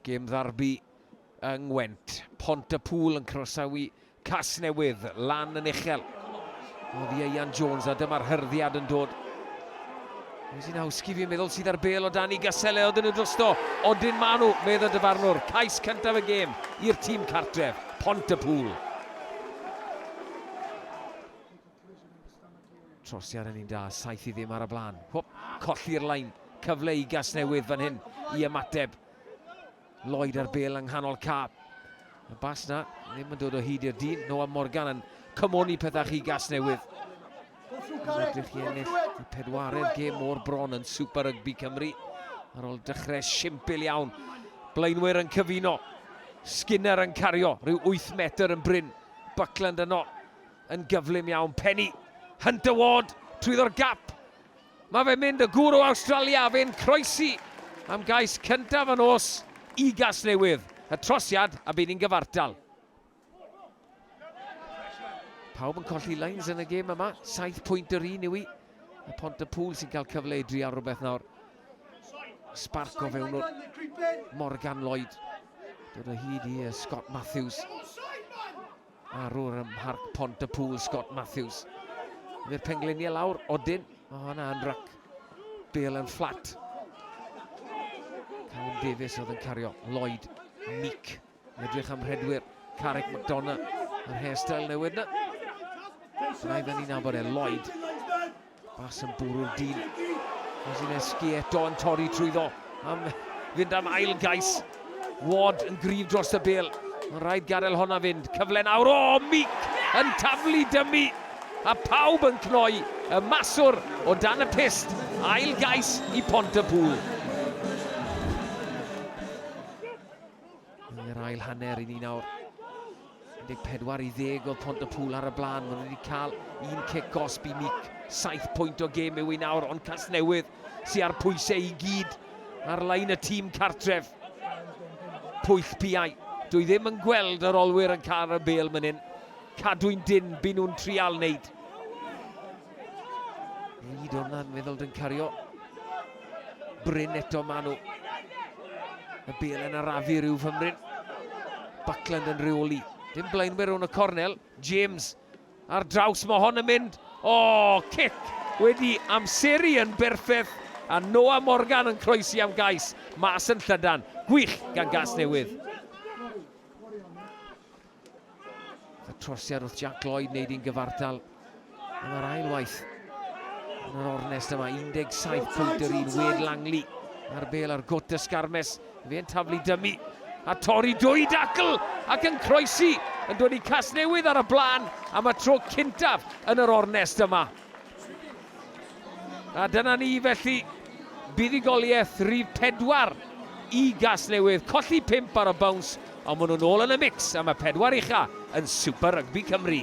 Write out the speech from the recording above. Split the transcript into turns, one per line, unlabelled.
Gêm ddarbi yng Ngwent. Pont y Pŵl yn croesawu Casnewydd lan yn uchel. Oedd Ieuan Jones a dyma'r hyrddiad yn dod. Rosinowski fi'n meddwl sydd ar bel o Dani Gaselle oedden nhw drosto. Odyn maen nhw, meddwl dyfarnwr. Cais cyntaf y gêm i'r tîm cartref, Pont y Pŵl. Trosiad yn un da, saith i ddim ar y blaen. Hwp, colli'r lain. Cyfle i Gasnewydd fan hyn i ymateb. Lloyd ar bel yng nghanol cap. Y bas na, ddim yn dod o hyd i'r dyn. Noah Morgan yn cymoni pethau chi Gasnewydd. Yn edrych i ennill y pedwaredd gêm o'r bron yn Super Rugby Cymru. Ar ôl dechrau simpl iawn. Blaenwyr yn cyfuno. Skinner yn cario, rhyw 8 metr yn bryn. Buckland yno. Yn gyflym iawn, Penny. Hunter Ward, trwyddo'r gap. Mae fe'n mynd, y gwrw Awstralia, a fe'n croesi am gais cyntaf yn os i Gasnewydd. Y trosiad, a bydd ni'n gyfartal. Pawb yn colli lines yn y gêm yma. Saith pwynt yr un yw i. Y pont y pŵl sy'n cael cyfle i drial rhywbeth nawr. Spark o fewn o'r Morgan Lloyd. Dod o hyd i Scott Matthews. Arwr ym Mharc Pont y Pŵl, Scott Matthews. I'r pengliniau lawr, Odin. O, oh, na, yn rac. Bale yn fflat. Callum Davies oedd yn cario. Lloyd, Meek. Edrych am rhedwyr. Carrick McDonough. Yr hairstyle newydd na. Rhaid yn ni'n nabod e. Lloyd. Pas yn bwrw'r dyn. Wazineski eto yn torri trwyddo am fynd am ail gais. Ward yn gryf dros y bel. Mae'n rhaid gadael honna fynd. Cyfle nawr. O, oh, Mick yn taflu dymu. A pawb yn cnoi y maswr o dan y pist. Ail gais i Pont y Pŵl. Yn yr ail hanner i ni nawr. 14 i ddeg oedd Pont y Pŵl ar y blaen. Maen nhw wedi cael un cic gosb i mic. 7 pwynt o gêm yw i nawr, ond Casnewydd sy'n ar pwysau i gyd ar lain y tîm cartref. Pwyll piau. Dwi ddim yn gweld yr olwyr yn cael y bel mynd hyn. Cadwyn dyn, byn nhw'n trial wneud. Reid o'na'n meddwl yn cario. Bryn eto Manu. Y bel yn arafu rhyw fymryn. Buckland yn rheoli. Dim blaenwyr o'n y cornel. James ar draws, mae hon yn mynd. O, oh, cic wedi amseru yn berffaith a Noah Morgan yn croesi am gais mas yn llydan. Gwych gan gas newydd. Y trosiad wrth Jack Lloyd wneud i'n gyfartal yn yr ail waith. Yn yr ornest yma, 17 pwynt yr un Wed Langley a'r bel ar gwt y sgarmes. Fe'n taflu dymu a torri dwy dacl ac yn croesi yn dod i Casnewydd ar y blaen am y tro cyntaf yn yr ornest yma. A dyna ni felly, buddugoliaeth rhif pedwar i Gasnewydd, colli pump ar y bowns, ond maen nhw'n ôl yn y mix am y pedwar ucha yn Super Rygbi Cymru.